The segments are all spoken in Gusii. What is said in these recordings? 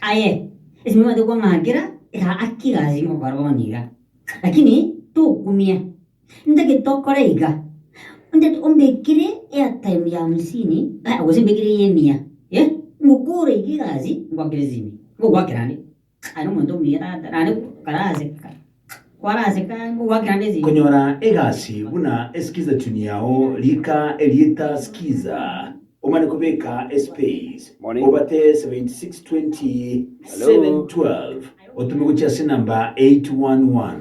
Aye, ase nimobwate kwang'akera aa akire ase chingokora bono iga, lakini tokumia. Ntagete tokore iga, ntagete ombekere airtime ya hamsini aya gose mbekere eye emia eh, ngokore iga egasi ngwakere sime, ngokwakera ande. Aye nomonto omuya tata naende kare aseka. Konyora egasi buna eskizetuni yao rika erieta skiza, omane kobeka espace, obate 7620712 otome gochia ase enamba 811.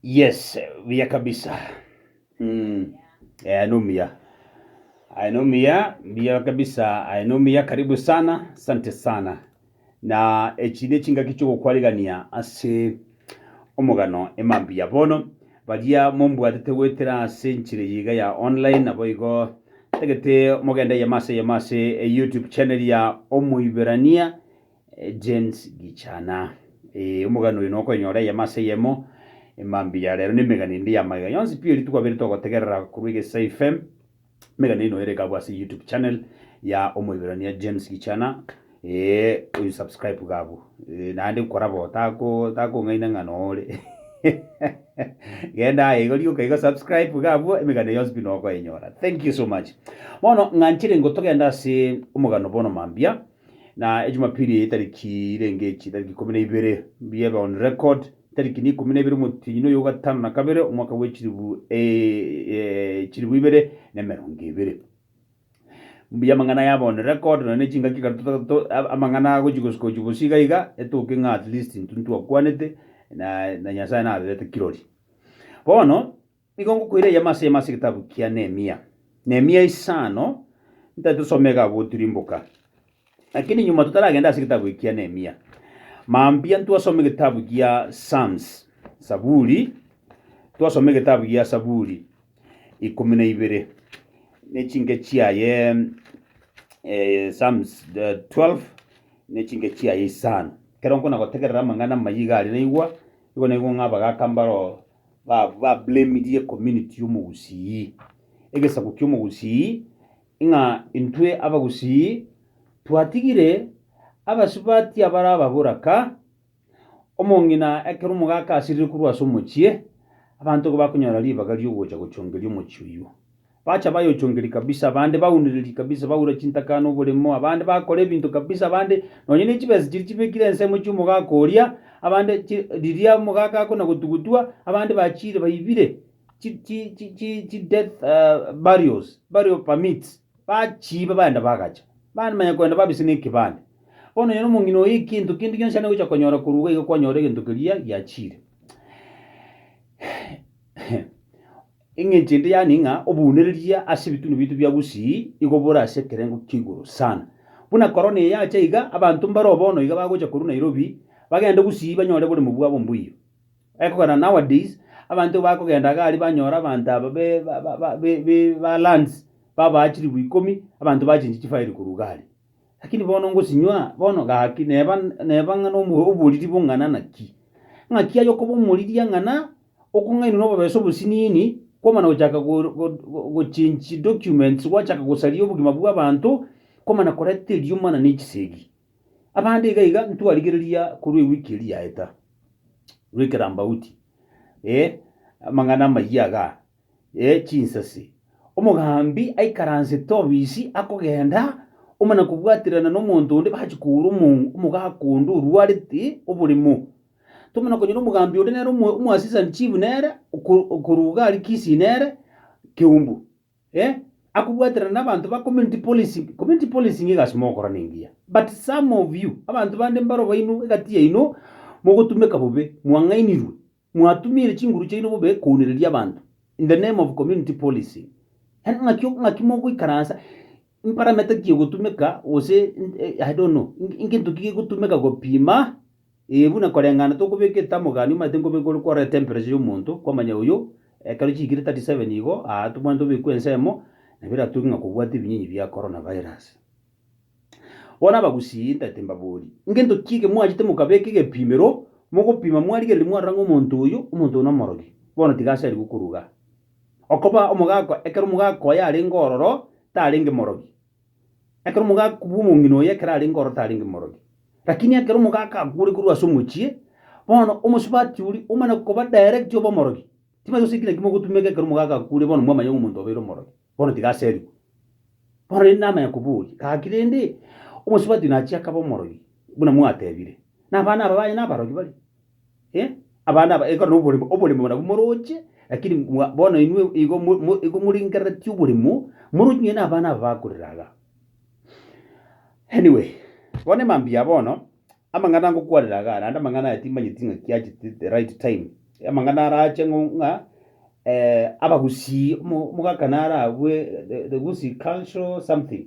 Yes, buya kabisa. Aye nomuya aye nomuya mbuya kabisa aye nomuya karibu sana sante sana na echi nechingaki chogokwarigania ase omogano emambuya bono baria mombwatete goetera ase enchera eye iga ya online naboigo tagete mogende eyemo ase eyemo ase youtube channel ya omoiberania Jens Gichana. Ee, omogani oyo nokoenyora eyemo ase eyemo, emambia ya rero, na emegani ende ya magega yonsi pi eri rituko abere togotegerera korwa Egesaai FM. Emegani eye noyereka abwo ase YouTube channel ya Omoiberania Jens Gichana. Ee, oisubscribe iga abwo. Ee, naende nkora bo, tako takong'aina ng'a nore. Genda aye iga rioka iga subscribe iga abwo, emegani yonsi pi nokoenyora. Thank you so much. Bono ng'a nchire ingo togende ase omogano bono mambia. Na ejumapili eye etariki irenge echi etariki ikomi na ibere mbiebe on record etariki ne ikomi na ibere omotienyi noyo ogatano na kabere omwaka bwe chilibu eh, chilibu ibere ne emerongo ebere mbuya amang'ana yabe on record nonya ne chingaki kare tota to ab- amang'ana agochi gosuka gochi bosi iga iga etoke ng'a at least intwe ntwakwanete na na nyasaye naberete kirori bono. Nigo ngokoira eyemo ase eyemo ase egetabu kia Nehemia, Nehemia isano, ntari tosoma iga abwo tirimboka. Lakini nyuma totaragenda ase egetabu eki kia Nehemia, mambia ntwasoma egetabu kia Psalms, Saburi, twasoma egetabu gia Saburi ikomi na ibere, ne chinke chiaye eh, Psalms eh, 12 ne chinke chiaye isano. Ekero nkona gotegerera amang'ana amayia iga aria naigwa, igo naigwa ng'a abagaka mbaro ba ba blamirie community y'omogusii egesaku ki'omogusii ng'a intwe abagusii twatigire abasubati abare ababoraka omong'ina ekero omogaka asirire korwa ase omochie abanto igo bakonyora ribaga ri'ogocha gochongeria omochie oyio. Bacha bayochongeria kabisa, abande baunereria kabisa, baura chintaka ane oboremo, abande bakora ebinto kabisa, abande nonye ne chibesa chiria chibekire ensemo chi'omogaka oria, abande chi riria omogaka akona gotugutwa, abande bachiire baibire chi chi chi chi chi death eh, burials, burial permits, bachiiba baenda bagacha, bamanya kogenda babisa na ekebande. Bono nonye na omong'ina oyo ekento kende gionsi ande gocha konyora korwa iga iga kwanyora egento keria giachiire. Engencho ende yani ng'a obounereria ase ebitunu biaito bia gusii igo bore ase ekerengo kia igoro sana. Buna korona eyacha iga, abanto mbaro bono iga bagocha korwa Nairobi bagende gusii banyore oboremu bwabo mbuya. Ekogera nowadays, abanto igo bakogenda iga aria banyore abanto aba be be be ba lands babaa chilifu ikomi, abanto bachinche chifile korwa iga aria. Lakini bono ngosinywa bono gaki neba neba ng'a nomo oboriri bong'ana naki. Ng'aki aye okoba omoriri ang'ana. Okong'ainwa nobobeso obosiniini kwamana gochaka gochange documents gwachaka gosaria obogima bw'abanto kwamana koreta erioma na nechisegi. Abande iga iga ntwarigereria korwa ewiki eria yaeta korwa ekerambauti eh amang'ana amayia iga eh chinsase. Omogambi aikaransete obisi akogenda omana kobwaterana nomonto onde bachi kogora omogaka onde orwarete oboremo. Tomanya okonyora omogambi oria nere omo omoasisani chief nere oko- okorwa iga aria Kisii nere Kiumbu, eh, akobwaterana na abanto ba community policing, community policing egasi mogokora nengiya, but some of you abanto bande mbaro baino egati yaino mogotumeka bobe, mwang'ainirwe, mwatumire chinguru chiaino bobe kounereria abanto in the name of community policing. Yaani ng'aki o- ng'aki mogoikaransa. Imparameta ki egotumeka, gose I don't know, ngento ki gegotumeka gopima? Ee, buna koreng'ana tokobeka etamogani omanyete nkobeka ore kwarora etemperature y'omonto, kwamanya oyio, ekero chiikire 37 igo, aa, tobwanete obekwe ensemo, nabo eratoke ng'a kobwate ebinyinyi bia Corona virus. Bono abagusii ntagete mbaborie, ngento ki eke mwachete mokabeka egepimero, mogopima mwarigereria mwarora ng'a omonto oyio, omonto oyio nomorogi, bono tiga ase arigwe koruga. Okoba omogaako ekero omogaaka oye arenge ororo tarenge morogi, ekero omogaaka bw'omong'ina oye ekero arenge ororo tarenge morogi. Lakini ekero omogaaka akure korwa ase omochie, bono omosubati oria omana koba direct obe omorogi. Timanyeti gose ekina ki mogotumeka ekero omogaaka akure bono mwamanya ng'a omonto obeire omorogi, bono tiga aserigwe. Bono rende namanya koboria, gaki rende, omosubati naachia akaba omorogi buna mwatebire, na abana aba baye nabarogi baria? Eh, abana aba, ekero noboremo, oboremo nabwo moroche, lakini mwa- bono inwe igo mo- mo- igo morengereretie oboremo, moroche nonya na abana aba bakorera iga. Anyway, bono mambia bono, amang'ana ngokwanera igaa, naende amang'ana aya timanyeti ng'a kiachete the right time, amang'ana arache ng'o ng'a abagusii, omo- omogaka naro agwo the- the gusii cultural something.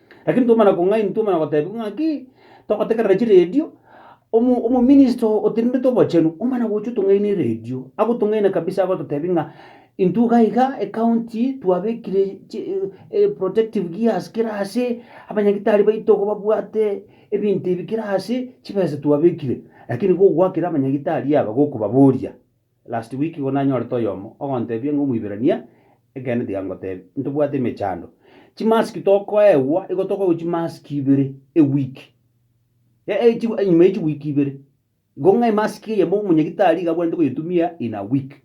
Lakini twamanya kong'aini, twamanya gotebigwa ng'aki, togotegerera chiredio, omo omominista oo otenenete obochenu, omana gocha otong'aini eredio, agotong'aina kabisa agototebia ng'a intwe iga iga ecounty twabekire chi e- protective gears kera ase, abanyagitari baito iga babwate ebinto ebi kera ase, chibesa twabekire, lakini igo ogwakire abanyagitari aba gokobaboria. Last week igo nanyorete oyomo ogontebia ng'a Omoiberania, ekeene tiga ngotebie, ntobwate emechando. Chimask tokoegwa, igo tokoegwa chimask ibere a week. E- e- chi- enyuma ye chiweek ibere. Igo ng'a emask eyemo omonyagitari iga abwanete koyetumia in a week.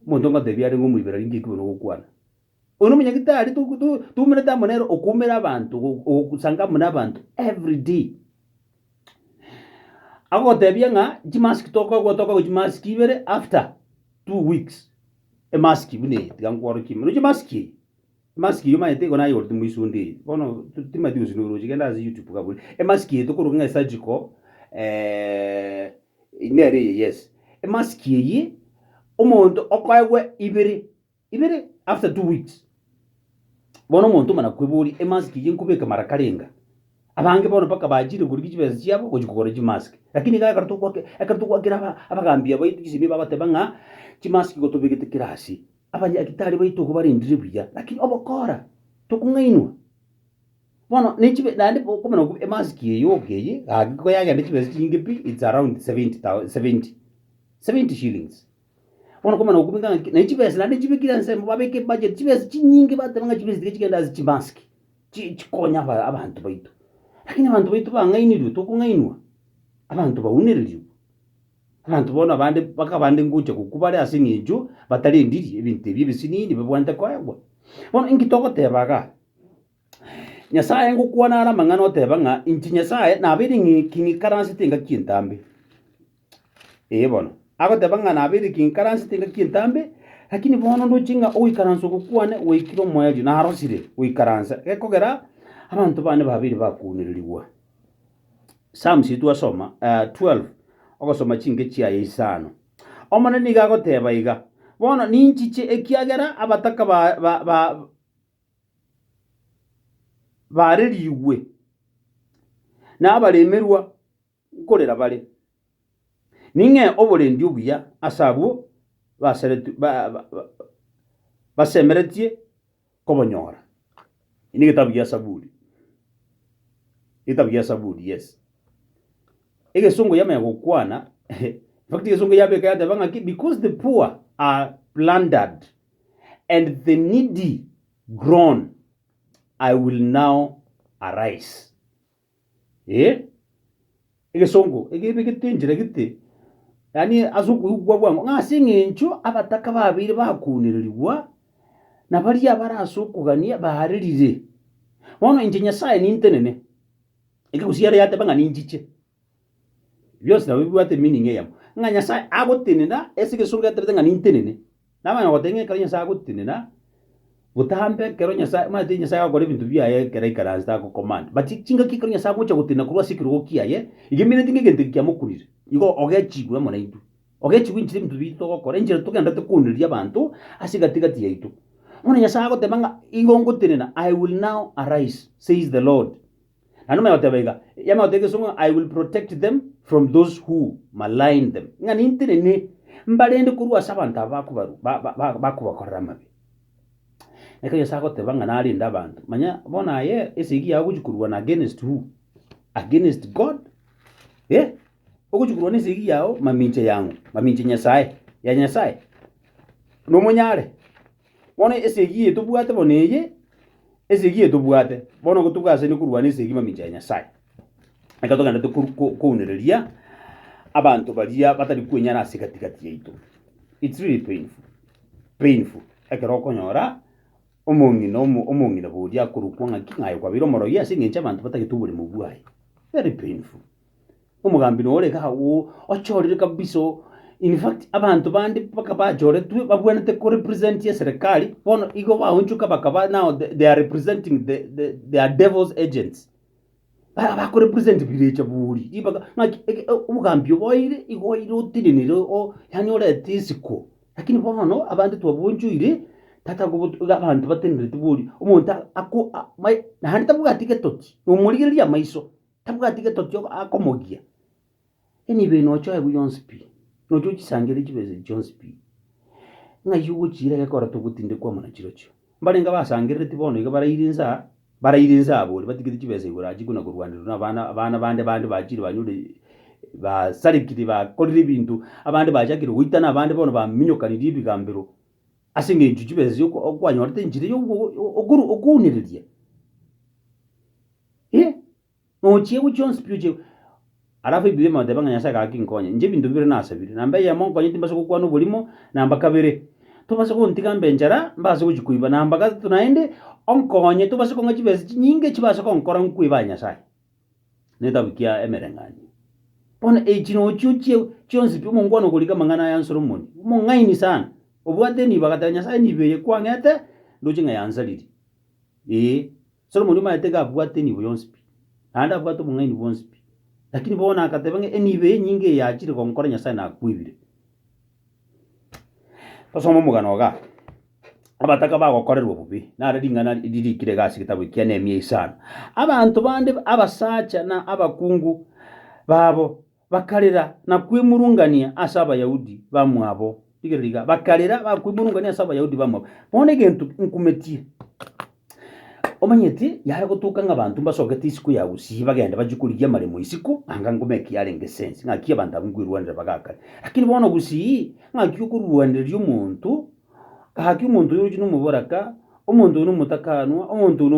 Omonto ngotebia arenge Omoiberania, inki eki bono ogokwana? Oyo nomonyagitari toumerete amo nere okoumera abanto, ogosanga amo nabanto every day. Agogotebia ng'a chimask tokagwa tokagwa chimask ibere after two weeks emask buna eye tiga nkworokie ime. Oroche emask eye, emask eye omanyete igo nayegorete moisunda eye, bono timanyeti gose noroche genda ase YouTube iga abore. Emask eye tokoroka ng'a esurgical nere eye yes. Emask eyio omonto okoegwa ibere Ibere after two weeks bono omonto omana kweboria emask eye nkobeka mara karenga abange bono mpaka bachire korigia chibesa chiabo gochi kogora chimask lakini iga ekero togwake ekero togwakera aba abagambi aba chisemi babateba ng'a chimask igo tobegete kera ase abanyagitari baito igo barendire buya lakini obokora tokong'ainwa bono ne chibe naende bo okomana okwo emask eye yoka eye iga agiko yagenda chibesa chinyinge pi it's around seventy thou seventy seventy shillings. Bono komana gokobeka ng'a ki? Naende chibesa naende nchibekire ase ensemo, babeka ebudget, chibesa chinyinge bateba ng'a chibesa tiga chigende ase chimasiki, chi chikonye aba abanto baito. Lakini abanto baito bang'ainirwe, tokong'ainwa, abanto baunererigwe, abanto bono abande mpaka abande ngocha gokwa bare ase eng'encho batarendiri ebinto ebi ebisinini bibabwanete koegwa. Bono inki togoteba igaa? Nyasae, ngokwana are amang'ana oteba ng'a inche Nyasae nabeire ng'iki ng'ikaransete engaki entambe. Ee bono, agoteba ng'a nabeire eki ng'ikaransete engaki entambe, lakini bono ndoche ng'a ogoikaransa oko kwane gwaikire omoerio, narosire goikaransa gekogera abanto bane babeire bakwounererigwa. Psalms eye twasoma 12, ogosoma chinke chiaye isano. Omonene nigo agoteba iga, Bono ninchiche ekiagera abataka ba- ba- ba- Baarerigwe nabaremerwa nkorera bare, ning'ee oborendi obuya ase abwo basemeretie kobonyora. Egesongo yamanya gokwana, Because the poor are plundered. and the needy groan, I will now arise. Ee, egesongo egebegete enchera gete, yaani ase okoigwa bwango, ng'a ase eng'encho abataka babeire bakoonererigwa, na baria abare ase okogania baarerire. Bono inche Nyasae nintenene, ekegusii ere yateba ng'a ninchiche. Bionsi nabo bibwate meaning eyemo. Ng'a Nyasae agotenena, ase egesungu yaterete ng'a nintenene. Nabo onye ogoteba ng'a ekero Nyasae agotenena, botambe ekero Nyasae, omanyete Nyasae agokora ebinto biaye ekero aikaransete agocommand. But chingaki ekero Nyasae agocha gotenena korwa ase ekerogo kiaye, iga emeanete ng'a egento eke kiamokunire. Igo ogechigwa amo naintwe. Ogechigwa enchera ebinto biaito togokora, enchera togenderete koonireria abanto ase egati gati yaito. Bono Nyasae agoteba ng'a igo ngotenena, I will now arise, says the Lord. Na nonya ogoteba iga, Yamato y'egesungu, I will protect them from those who malign them, ng'a nintenene mbarende korwa ase abanto aba bakobaru- ba- ba- ba- bakobakorera amabe. Ekero Nyasae agoteba ng'a narende abanto, manya bono aye esegi yao ogochia korwana against who? Against God? Eh? Ogochia korwana esegi yao mamincha yang'o? Mamincha Nyasae? Ya Nyasae? Nomonyare? Bono esegi eye tobwate bono eye, esegi eye tobwate, bono igo togaasanire korwa na esegi mamincha ya Nyasae. Ekero togenderete koru- ko- kounereria abanto baria batari kwenyara ase egati gati yaito, it's really painful, painful ekero okonyora omong'ina omo omong'ina boria akorokwa ng'aki ng'aye kwabeire omorogi ase eng'encho abanto batagete oboremu bwaye, very painful. Omogambi noyo ore iga agwo ochorire kabisa oo, in fact abanto bande mpaka bachoretwe babwenerete ko represent eserekari, bono igo baonchoka bakaba now they are representing the the they are devils agents. Ba bako represent birecha buri, ribaga ng'aki eke obogambi obo oire igo oire otenenire oo yaani orete isiko. Lakini bono abande twabonchoire tata kobo iga abanto batenerete bori, omonto ako a mai naende tabwati getotsi, nomorigereria amaiso. Tabwati getoto akomogia, enibo eye nochoegwe yonsi pi, nochie ochisangerere chibesa echi chionsi pi, ng'ai ase ogochiira egekora togotinde kwamo na chirochio. Mbarenge abasangerereti bono iga baraire inse aa, baraire inse abo boria batigete chibesa igoro aa chikuna korwanerwa na abana abana bande bande bachiire banyore basarekire bakorire ebinto, abande bachakire goitana abande bono baminyokanirie ebigambero ase eng'encho chibesa oko okwanyorete enchera ya ogo okoru okounereria. Hee! Nochia gochia onsi pi ochia Alafu ebibe bagateba ng'a Nyasae gaki nkonye, inche ebinto bibere nasabire, namba eyemo nkonye timbasa gokwana oborimo, namba kabere, tobase gontiga mbe enchara, mbase gochia koiba, namba gatato naende, onkonye tobase kong'a chibesa chinyinge chibase gonkora nkwe Bae Nyasae. Negetabu kia Emerenganio. Bono echi nochia ochia chionsi pi omongwana okorika amang'ana aya Solomoni, omong'aini sana, obwate enibo, agateba Nyasae nibo eye kwang'ete, ndoche ng'a yansariri. Ee. Solomoni omaete iga abwate enibo yonsi pi, naende abwate obong'aini bwonsi pi, lakini bono agateba ng'a enibo eye enyinge eye achire gonkora Nyasae nakwebire. Tosome omogano igaa, Abataka bagokorerwa bobe, naro ring'ana riria riikire iga ase egetabu ekia Nehemia isano. Abanto bande abasacha na abakungu babo Bakarera na kwemurungania ase Abayahudi bamwabo. Rigereria iga, bakarera na kwemurungania ase Abayahudi bamwabo. Bono egento nkumetie, omanyete yare gotoka ng'a abanto mbasogete isiko ya gusii bagende bachie korigia amaremo isiko, anga ngoma eki yarenge esense, ng'aki abanto abwo nkoirwanera bagakare. Lakini bono gusii, ng'aki okorwanereria omonto, gaki omonto oyo oroche nomoboraka, omonto oyo nomotakaanwa, omonto oyo no.